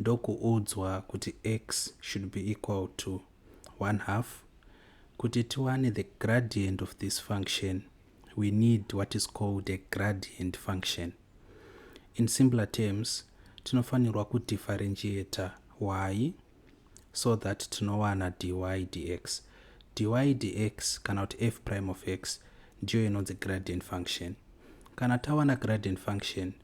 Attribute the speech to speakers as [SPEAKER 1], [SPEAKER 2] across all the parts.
[SPEAKER 1] ndokuudzwa kuti x should be equal to 1 half kuti tiwane the gradient of this function we need what is called a gradient function in simpler terms tinofanirwa kudifferentiata y so that tinowana dy dx dy dx kana kuti f prime of x ndiyo inonzi gradient function kana tawana gradient function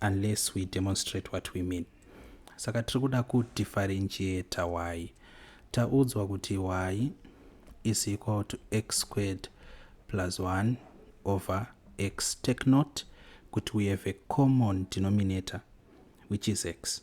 [SPEAKER 1] unless we demonstrate what we mean saka tiri kuda kudifferentiate y taudzwa kuti y is equal to x squared plus 1 over x take note kuti we have a common denominator which is x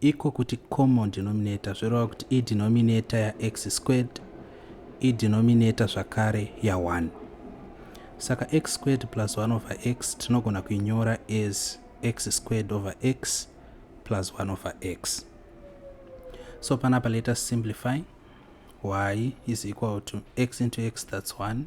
[SPEAKER 1] Iko kuti common denominator zvoreva kuti idenominator yax squared idenominator zvakare ya1. Saka x squared plus 1 over x tinogona kuinyora as x squared over x plus 1 over x. So panapa let us simplify y is equal to x into x that's 1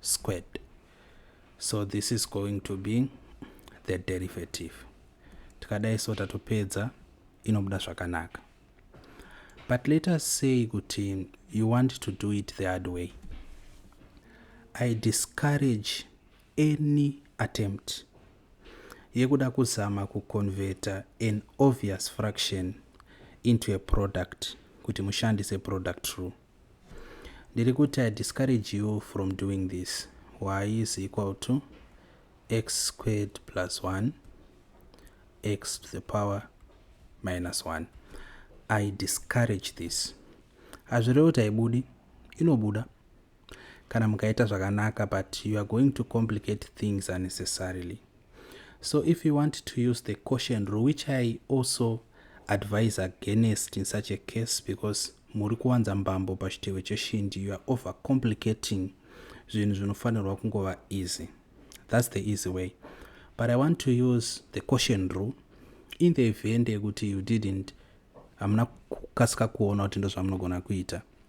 [SPEAKER 1] squared so this is going to be the derivative tikadai so tatopedza inobuda zvakanaka but let us say kuti you want to do it the hard way i discourage any attempt yekuda kuzama kuconverta an obvious fraction into a product kuti mushandise product rule ndiri kuti i discourage you from doing this y is equal to x squared plus 1 x to the power minus 1 i discourage this hazvirevi kuti haibudi inobuda kana mukaita zvakanaka but you are going to complicate things unnecessarily So if you want to use the caution rule, which I also advise against in such a case because muri kuwanza mbambo pachitewe cheshindi you are over complicating zvinhu zvinofanirwa kungova easy that's the easy way but i want to use the caution rule in the event yekuti you didn't hamuna kukasika kuona kuti ndozvamunogona kuita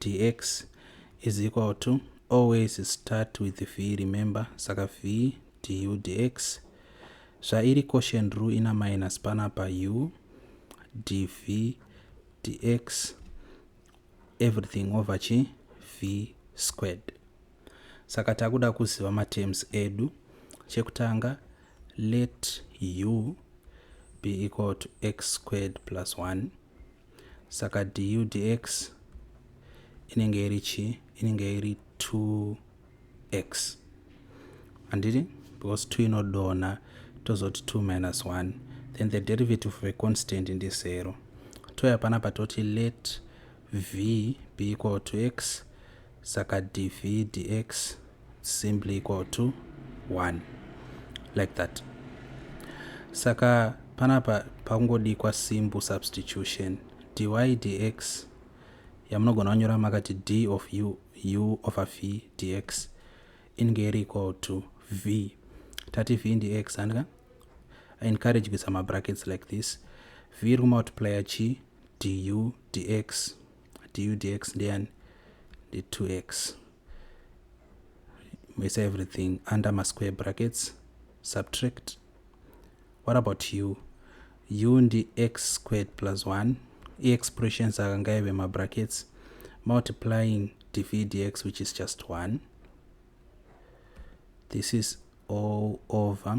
[SPEAKER 1] dx is equal to always start with v remember saka v du dx zvairi quotient rule ina minus panapa u dv dx everything over chi v squared saka takuda kuziva matems edu chekutanga let u be equal to x squared plus 1 saka du dx inenge iri chi inenge iri 2x handiti because 2 inodonha tozoti 2 minus 1 then the derivative of a constant ndi 0 touya panapa toti let v be equal to x saka dv dx simply equal to 1 like that saka panapa pakungodikwa simple substitution dy dx yamunogona kunyora makati d of u, u over v dx inge iri equal to v tati v ndiex handika encourage kuisa mabrackets like this v iri kumultiplya chi du dx dudx ndeyani ndi 2x mese everything under masquare brackets subtract what about u u ndi x squared plus 1 iexpressions aka ngaive mabrackets multiplying dv dx which is just 1 this is all over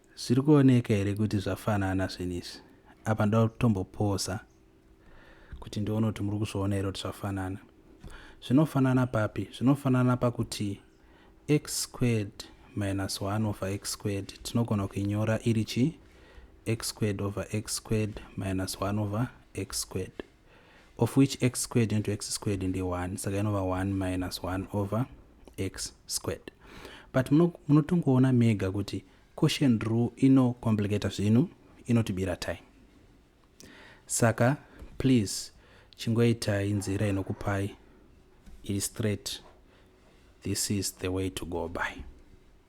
[SPEAKER 1] Zviri kuoneka here kuti zvafanana zvinhu izvi? Apa ndoda kutombopoza kuti ndione kuti muri kuzviona here kuti zvafanana. Zvinofanana papi? Zvinofanana pakuti x squared minus 1 over x squared tinogona kuinyora iri chi x squared over x squared minus 1 over x squared. of which x squared into x squared ndi 1 saka inova 1 minus 1 over x squared but munotongoona muno mega kuti quotient rule inocomplicata zvinhu inotibira time saka please chingoitai nzira inokupai iri straight this is the way to go by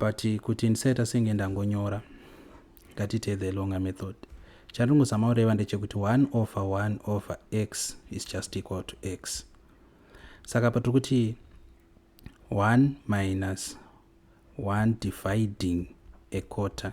[SPEAKER 1] but kuti ndisaita senge ndangonyora ngatite the longer method chandingozama kureva ndechekuti 1 over 1 over x is just equal to x saka patiri kuti 1 minus 1 dividing a quarter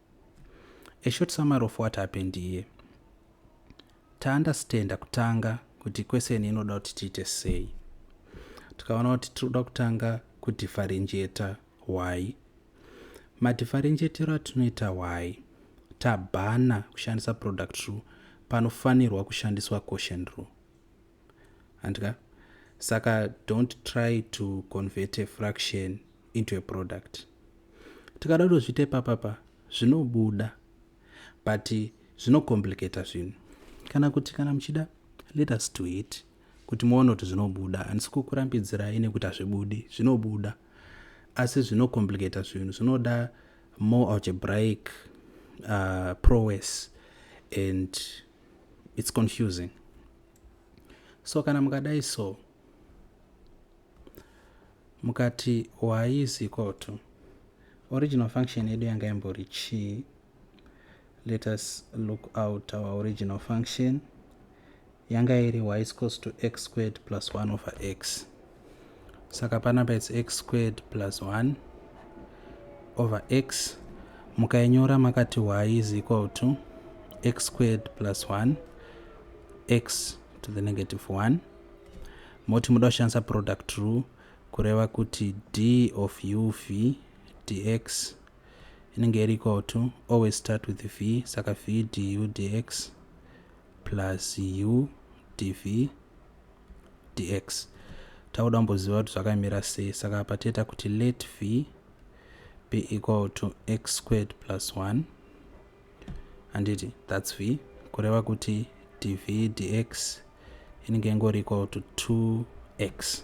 [SPEAKER 1] A short summary of what happened here. Taunderstanda kutanga kuti question inoda kuti tiite sei. Tikaona kuti tinoda kutanga kudifferentiator y. Madifferentiatero atinoita y tabhana kushandisa product rule panofanirwa kushandiswa quotient rule. handika saka don't try to convert a fraction into a product tikada kutozviita ipapapa zvinobuda but zvinocomplicata zvinhu kana kuti kana muchida let us do it kuti muone kuti zvinobuda handisi kukurambidzirai nekuti hazvibudi zvinobuda asi zvinocomplicata zvinhu zvinoda more algebraic uh, prowess and its confusing so kana mukadai so mukati y is equal to original function yedu yanga imbori chii let us look out our original function yanga iri y is equals to x squared plus 1 over x saka panapa its x squared plus 1 over x mukainyora makati y is equal to x squared plus 1 x to the negative 1 moti muda kushandisa product rule kureva kuti d of u v dx inenge iri equal to always start with v saka v du dx plus u dv dx takuda kumboziva kuti zvakamira sei saka apa toita kuti let v be equal to x squared plus 1 handiti thats v kureva kuti dv dx inenge ingori equal to 2x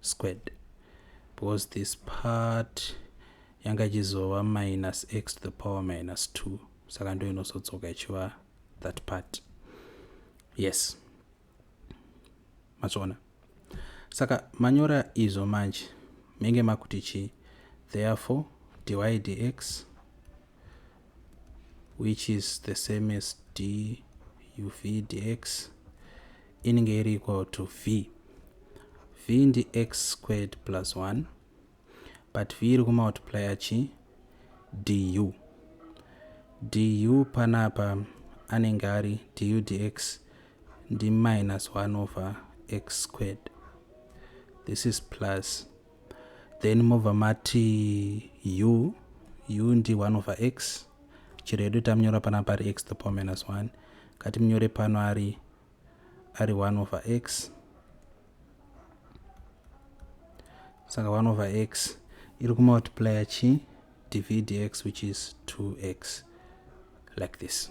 [SPEAKER 1] squared because this part yanga ichizova minus x to the power minus 2 saka ndo inozodzoka ichiva that part yes matsvona saka manyora izvo manje menge makuti chii therefore dy dx which is the same as d uv dx inenge iri equal to v v ndi x squared plus 1 but v iri kumultiplya chi du du panapa anenge ari du dx ndi minus 1 over x squared this is plus then mobva mati u u ndi 1 over x chero yedu tamunyora pana pari x the power minus 1 kati munyore pano ari ari 1 over x saka 1 over x iri kumultiplya chi dvdx which is 2x like this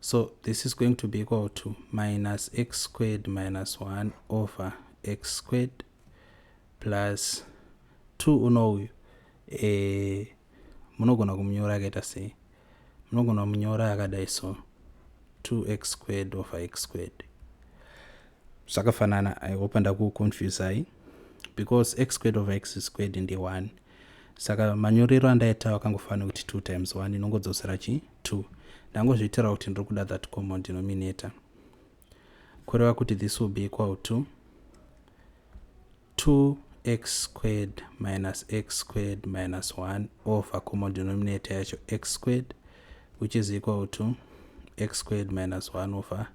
[SPEAKER 1] So this is going to be equal to minus x squared minus 1 over x squared plus 2 uno uyu e, munogona kumunyora akaita sei munogona kumunyora akadai so 2x squared over x squared zvakafanana i hope andakuconfusai because x squared over x squared ndi 1 saka manyorero andaita akangofanira kuti two times one inongodzosera chi two ndangozviitira kuti ndiri kuda that common denominator kureva kuti this will be equal to 2x squared minus x squared minus 1 over common denominator yacho x squared which is equal to x squared minus 1 over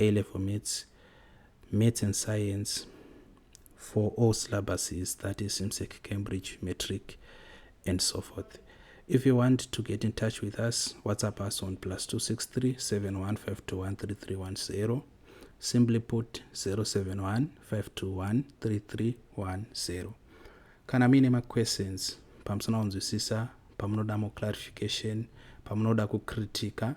[SPEAKER 1] A level maths, maths and science for all syllabuses, that is MSEC, Cambridge, Matric, and so forth. If you want to get in touch with us, WhatsApp us on plus 263 715213310. Simply put 071 521 3310. Kana mine ma questions, pamusana unzwisisa, pamunoda mo clarification, pamunoda kukritika,